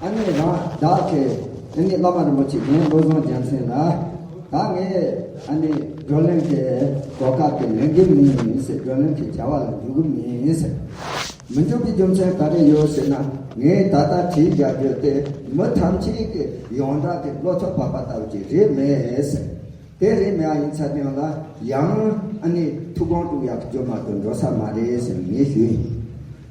ཨ་ནེ་རང་བདག་གི་ཨ་ནེ་བླ་མ་རིན་པོ་ཆེ་རྒན་བློ་བཟང་རྒྱལ་མཚན་ལ་ད་ངས་ཨ་ནེ་བགྲོ་གླེང་གི་གོ་སྐབས་དེ་ལེན་གི་མིན་ཟེར་བགྲོ་གླེང་གི་བྱ་བ་ལ་འཇུག་གི་མིན་ཟེར། མི་འཇུག་གི་རྒྱུ་མཚན་ག་རེ་ཡོད་ཟེར་ན་ངས་ད་ལྟ་དྲིས་རྒྱག་རྒྱུ་དེ་མི་ཐམས་ཅད་ཀྱི་ཡོངས་གྲགས་ཀྱི་བློ་ཚོགས་འཕགས་པ་ལྟ་བུ་ཅིག་རེད་མེད་ཟེར། དེ་རེད་མེད་ཡིན་ཚར་ཀྱང་ལ་ཡང་ཨ་ནེ་ཐུགས་དགོངས་དཀྲུགས་ཡག་གི་རྒྱུ་མ་གཏོགས་འགྲོ་ས་མ་རེད་ཟེར་ངས་ཞུས།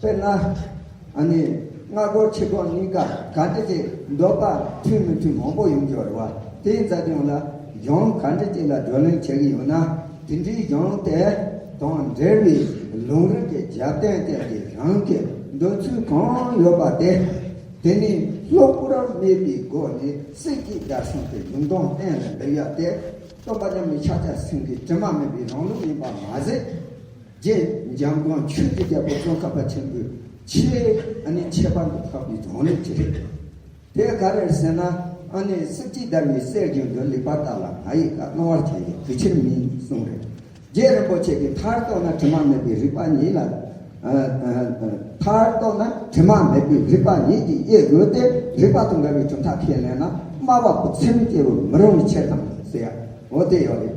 དཔེར་ན། ཨ་ནི། སྔ་དགོང་ཕྱི་དགོང་གཉིས་ཀ་ག་འདྲི་ཅིག་འདོགས་པ་འཐུས་མི་འཐུས་མང་པོ་ཡོང་རྒྱུ་རེད་བ། དེའི་རྩ་སྐྱོང་ལ་གཞུང་ག་འདྲི་ཅིག་ལ་བགྲོ་གླེང་བྱེད་གི་ཡོད་ན། དེ་འདྲིའི་གཞུང་དེ་དང་འབྲེལ་བའི་ལུང་རིགས་ཀྱི་རྒྱབ་རྟེན་སྟེང་གི་རང་གི་འདོད་ཚུལ་གང་ཡོད་པ་དེ། དེ་ནི་ལྷུག་པོར་སྨྲས་པའི་སྒོ་ནས་སྲིད་སྐྱིད་རྒྱ་གཞུང་གི་གཞུང་དོན་གཏན་ལ་འབེབས་ཡག་དེ། སྟོན་པ་མཉམ་མེད་ཕྱག་རྒྱ་སེང་གེའི་དྲི་མ་མེད་པའི་རང་ལུགས་ཡིན་པ་མ་ཟད། རྗེ་འཇམ་དབྱངས་ཆོས་ཀྱི་རྒྱལ་པོ་ཙོང་ཁ་པ་ཆེན་པོའི་ཆེས་ཨ་ནི་ཁྱད་པར་དུ་འཕགས་པའི་གཞུང་ལས་ཅི་རིགས་དང། དེ་ག་རེར་ཟེར་ན་ཨ་ནི་སྲིབ་ཀྱིས་བརྡར་བའི་སའི་རྒྱུན་དུ་ལེགས་པར་བརྟགས་ལ་ང་ཡིས་ཀ་སྣང་བར་བྱས་ཡོད་གི་ཕྱིར་མིན་གསུངས་རེད། རྗེ་རིན་པོ་ཆེ་གིས་མཐར་རྟོགས་ན་དྲི་མ་མེད་པའི་རིག་པ་ཉིད་ལ། མཐར་རྟོགས་ན་དྲི་མ་མེད་པའི་རིག་པ་ཉིད་ཀྱིས་དབྱེ་དགོས་ཏེ་རིག་པ་དང་འགལ་བའི་གྲུབ་མཐའ་ཁས་ལེན་ན་སྨྲ་བ་པོ་ཚིམ་སྐྱེ་བར་མི་རུང་བའི་ཕྱིར་དང་ཟེར་ཡ་འོ་དེ་ཡང་རེད།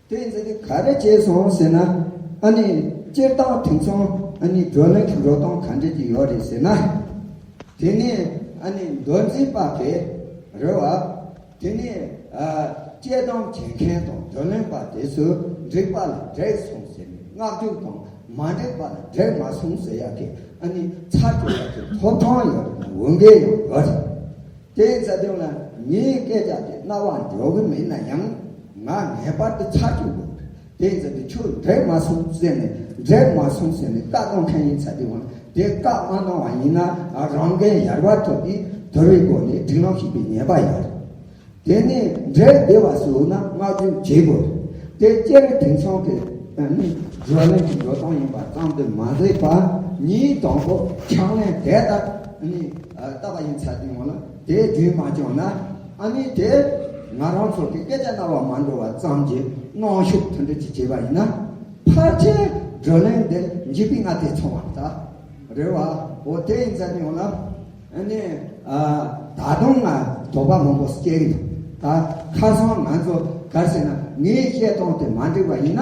དེ་ཡིན་ཟེར་ཏེ་ག་རེ་བྱས་སོང་ཟེར་ན། ཨ་ནི། སྤྱིར་བཏང་དེང་སང་ཨ་ནི་བགྲོ་གླེང་གི་འགྲོ་སྟངས་ག་འདྲས་ཀྱི་ཡོད་རེད་ཟེར་ན། དེ་ནི་ཨ་ནི་མདོ་འཛིན་པ་དེ་རེད་བ། དེ་ནི། དཔྱད་གཏམ་བྱེད་མཁན་དང་བགྲོ་གླེང་པ་དེ་ཚོས་འགྲིག་པ་ལ་འགྲིག་སོང་ཟེར་ནས་བསྔགས་བརྗོད་དང་མ་འགྲིག་པ་ལ་འགྲིག་མ་སོང་ཟེར་ཡག་གི་ཨ་ནི་ཚར་གཅོད་ཡག་གི་ཐོབ་ཐང་ཡོད་རེད་ན་འོས་འགན་ཡང་ཡོད་རེད། དེའི་རྩ་དོན་ལ་ངས་སྐད་ཆ་དེ་རྣ་བར་འཇོག་གི་མེད་ན་ཡང། ང་ངེས་པར་དུ་ཆ་འཇོག་དགོས། དེའི་རྩ་དོན་ཁྱོད་འབྲེལ་མ་སོང་ཟེར་ནས་འབྲེལ་མ་སོང་ཟེར་ནས་བཀའ་གནང་མཁན་ཡིན་ཚ་དེ་བ་དེ་བཀའ་མ་གནང་བ་ཡིན་ན་རང་འགན་ཡར་བ་ཐོབ་སྟེ་དོལ་བའི་སྒོ་ནས་སྒྲིག་ལམ་ཞིག་པའི་ཉེས་པ་ཡོད་རེད། དེ་ནས་འབྲེལ་བདེ་བ་སུ་ཡོད་ན་བསྔགས་བརྗོད་བྱེད་དགོས་རེད། དེ་སྐྱེ་བོ་དེང་སང་གི་ནི་བགྲོ་གླེང་གི་འགྲོ་སྟངས་ཡིན་པ་ཙམ་དུ་མ་ཟད་པ་ཉིད་དང་པོ་ཕྱག་ལེན་དེ་ལྟར་ནི། བཏབ་པ་ཡིན་ཚར་དུས་ངོ་ལ་དེའི་རྒྱུན་མ་བཅོངས་ན་ཨ་ནི་དེ་ང་རང་ཚོ་གི་སྐད་ཆ་རྣ་བར་མ་འགྲོ་བ་ཙམ་གྱི་གནོང་ཤུགས་མཐུན་སྒྲིལ་གྱིས་བྱས་པ་ཡིན་ན་ཕར་ཆེར་བགྲོ་གླེང་འདི་འཇིག་པའི་སྔ་ལྟས་འཚོང་བར་ད་རེ་བ་འོ་དེ་ཡིན་ཚར་དུས་ངོ་ལ་ཨ་ནི་ད་དུང་ང་དོགས་པ་མང་པོ་སྐྱེ་གི་འདུག་ད་ཁ་སང་ང་ཚོ་གར་སོང་ན་ངའི་བཤད་སྟངས་དེ་མ་འགྲིག་པ་ཡིན་ན།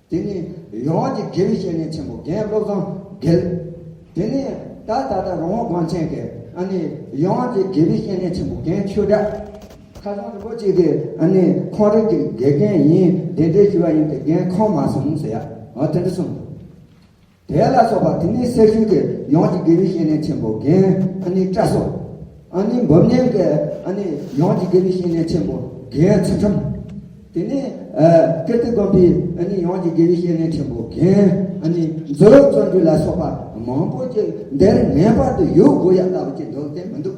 དེ་ནི་ཡོངས་ཀྱི་དགེ་བའི་བཤེས་གཉེན་ཆེན་པོ་རྒན་བློ་བཟང་དགེ། དེ་ནས་ད་ད་ལྟ་རོང་བོ་གངས་ཅན་གྱི་ཨ་ནི་ཡོངས་ཀྱི་དགེ་བའི་བཤེས་གཉེན་ཆེན་པོ་རྒན་ཆོས་གྲགས། ཁ་སང་རིན་པོ་ཆེ་གི་ཨ་ནི་ཁོང་རིགས་ཀྱི་དགེ་རྒན་ཡིན་གདན་འདྲེན་ཞུ་བ་ཡིན་ཏེ་རྒན་ཁོང་མ་སོང་ཟེར་ཡ། འོ་དེ་འདྲ་གསུངས། དེ་ལ་སོགས་པ་དེ་ནི་སེར་ཤུལ་གྱི་ཡོངས་ཀྱི་དགེ་བའི་བཤེས་གཉེན་ཆེན་པོ་རྒན་ཨ་ནི་བཀྲ་སོགས། ཨ་ནི་འབུམ་སྙན་གྱི་ཨ་ནི་ཡོངས་ཀྱི་དགེ་བའི་བཤེས་གཉེན་ཆེན་པོ་རྒན་ཚུལ་ཁྲིམས། དེ་ནས་ཀིརྟི་དགོན་པའི་ཨ་ནི་ཡོངས་ཀྱི་དགེ་བའི་བཤེས་གཉེན་ཆེན་པོ་རྒན་ཨ་ནི་མཛོད་བརྩོན་འགྲུས་ལ་སོགས་པ་མང་པོ་ཅིག་འདིར་ངེས་པར་དུ་ཡོད་དགོས་ཡ་ལྟ་བུ་ཅིག་འདུག་དེ་མི་འདུག།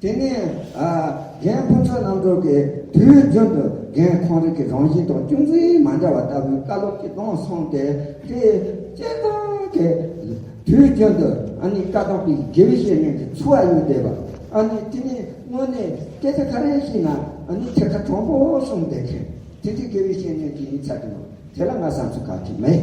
དེ་ནས་རྒན་ཕུན་ཚོགས་རྣམ་རྟོག་གིས་དུས་རྒྱུན་དུ་རྒན་ཁོང་རིག་གི་རང་བཞིན་དང་ཅུང་ཟད་མ་འདྲ་བ་ལྟ་བུའི་བཀའ་སློབ་ཅིག་གཏོང་སོང་སྟེ་དེ་སྤྱན་དྲངས་ཏེ། དུས་རྒྱུན་དུ་ཨ་ནི་བཀའ་ཐོག་པའི་དགེ་བའི་བཤེས་གཉེན་གྱི་ཚུལ་བ་ཡུལ་འདས་པ་ཨ་ནི་དེ་ནས་སྔོན་ནས་སྐད་ཆ་ག་རེ་བཤད་ན་ཨ་ནི་ཐད་ཀར་དྲང་པོ་གསུངས་བསྡད་མཁན་དེ་འདྲའི་དགེ་བའི་བཤེས་གཉེན་གྱི་ཡིན་ཚད་དུ་དེ་ལ་ང་བསམ་ཚུལ་ག་གེ་མེད།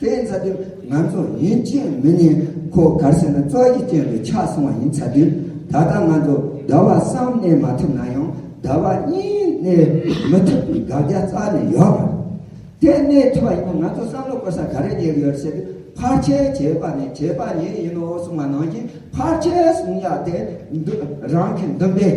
དེ་ཡིན་ཚ་དུས་ང་ཚོ་ཡུན་བཅད་མི་ཉན་ཁོ་གར་སོན་ན་བཙོག་གཞི་བསྐྱོན་པའི་ཆགས་སོང་བ་ཡིན་ཚ་དུས་ད་ལྟ་ང་ཚོ་ཟླ་བ་གསུམ་གནས་མ་ཐུབ་ན་ཡང་ཟླ་བ་གཉིས་གནས་མི་ཐུབ་པའི་དགག་རྒྱ་རྩ་ནས་ཡོད་པ་རེད་དེ་གནས་ཐུབ་པ་ཡིན་ན་ང་ཚོ་བསམ་བློ་བཀོལ་ས་ག་རེ་རྙེད་གི་ཡོད་ཟེར་དུས་ཕར་ཆེར་བྱས་པ་ནས་བྱས་པ་ཉིད་ཡིན་ནོ་གསུངས་པ་ནང་བཞིན་ཕར་ཆེར་གསུངས་ཡག་དེ་རང་གི་འདུན་པས།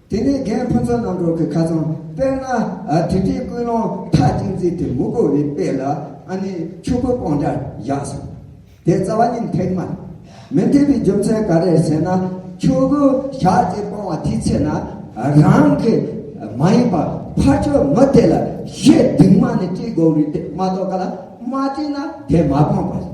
དེ་ནས་རྒན་ཕུན་ཚོགས་རྣམ་རོལ་གྱི་ཁ་ཚོན་དཔེར་ན། དེ་འདྲའི་སྐུལ་སློང་མཐའ་གཅིག་མཛད་དེ་མུ་གོ་བའི་དཔེ་ལ་ཨ་ནི་ཕྱུག་པོའི་སྤང་འདྲར་བཞག་ཟིན། དེ་རྩ་བ་ཉིད་ཐེག་མ། མི་འཐད་པའི་རྒྱུ་མཚན་ག་རེ་ཟེར་ན། ཕྱུག་པོའི་ཞག་གཅིག་སྤང་བ་དེའི་ཚེ་ན། རང་གི་མ་ཡིན་པར་ཕ་ཆོས་མི་དེ་ལ་ཞེ་སྡིག་མ་ནི་སྤྲེལ་སྒོག་རུས་དེ་མ་གཏོགས་ག་ལ་མ་སྤྲད་ན་དེ་མ་སྤངས་པ་རེད།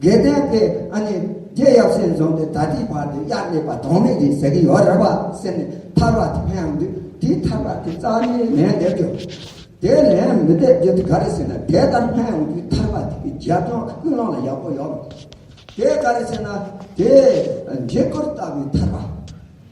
དགེ་ལྡན་པས་ཨ་ནི་རྒྱལ་ཡབ་སྲས་འཛོམས་ཏེ་ད་ལྟའི་བར་དུ་གཡག་ལེགས་པ་དོགས་མེད་ཀྱིས་ཟེར་གྱི་ཡོད་རེད་པ་ཟེར་ནས་ཐར་བ་དེ་ཕན་འདུག་དེའི་ཐར་བ་དེ་རྩ་བའི་ལན་འདེབས་རྒྱུ། དེའི་ལན་མི་འདེབས་རྒྱུ་དེ་ག་རེ་ཟེར་ན་དེ་ལྟར་ཕན་ཡོང་རྒྱུའི་ཐར་བ་དེ་གི་རྒྱབ་ལྗོངས་ལ་ཀུན་སློང་ལ་ཡག་པོ་ཡོད་རེད། དེ་ག་རེ་ཟེར་ན་དེ་འཇིགས་སྐུལ་ལྟ་བུའི་ཐར་བ།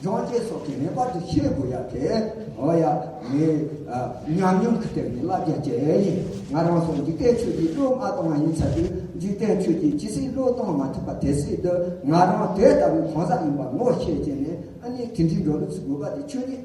སྦྱོང་བྱེད་སོགས་ཀྱི་ངེས་པར་དུ་ཤེས་དགོས་ཡ་དེ། འོ་ཡ། ངའི། ཉམས་མྱོང་གི་སྟེང་ནས་བསླབ་བྱ་སྤྱད་ཡིན། ང་རང་སོགས་འཇིག་རྟེན་ཆོས་ཀྱི་བློ་མ་གཏོང་བ་ཡིན་ཚ་དུས་འཇིག་རྟེན་ཆོས་ཀྱི་ཇི་སྲིད་བློ་གཏོང་མ་ཐུབ་པ་དེ་སྲིད་དུ་ང་རང་དེ་ལྟ་བུའི་གང་ཟག་ཡིན་པར་ངོ་ཤེས་བྱས་ནས་ཨ་ནི་དེ་འདྲིའི་འགྲོ་ལུགས་སུ་དགོས་པ་དེ་ཆོས་ཉིད།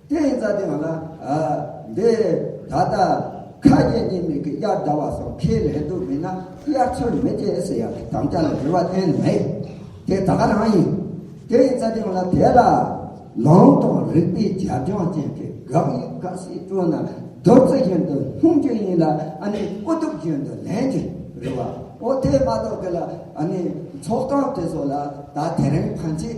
དེ་ཡིན་ཙང་དེ་ང་ལ་འདི་ད་ལྟ་ཁ་རྒྱན་གྱི་མིག་གིས་དབྱར་ཟླ་བ་སོགས་ཁས་ལེན་དུ་མེད་ན་དབྱར་ཚུལ་མི་དེ་ཟེར་ཡག་གི་དམ་བཅའ་ལ་རེ་བ་གཏན་ནས་མེད། དེ་ད་ག་རང་ཡིན། དེ་ཡིན་ཙང་དེ་ང་ལ་དེ་ལ་ལུང་དང་རིགས་པའི་རྒྱབ་ལྗོངས་ཅན་གྱི་དགག་དབྱེ་དཀའ་སེ་སྤྲོ་ན་བདུད་རྩི་བཞིན་དུ་ལྷུང་རྒྱུ་ཡིན་ལ་ཨ་ནི་ཨུ་དུག་བཞིན་དུ་ལེན་གྱི་རེད་བ་འོ་དེ་མ་གཏོགས་གི་ལ་ཨ་ནི་ཚོགས་སྟངས་དེ་ཚོ་ལ་ད་དེ་རིང་ཕན་ཆད།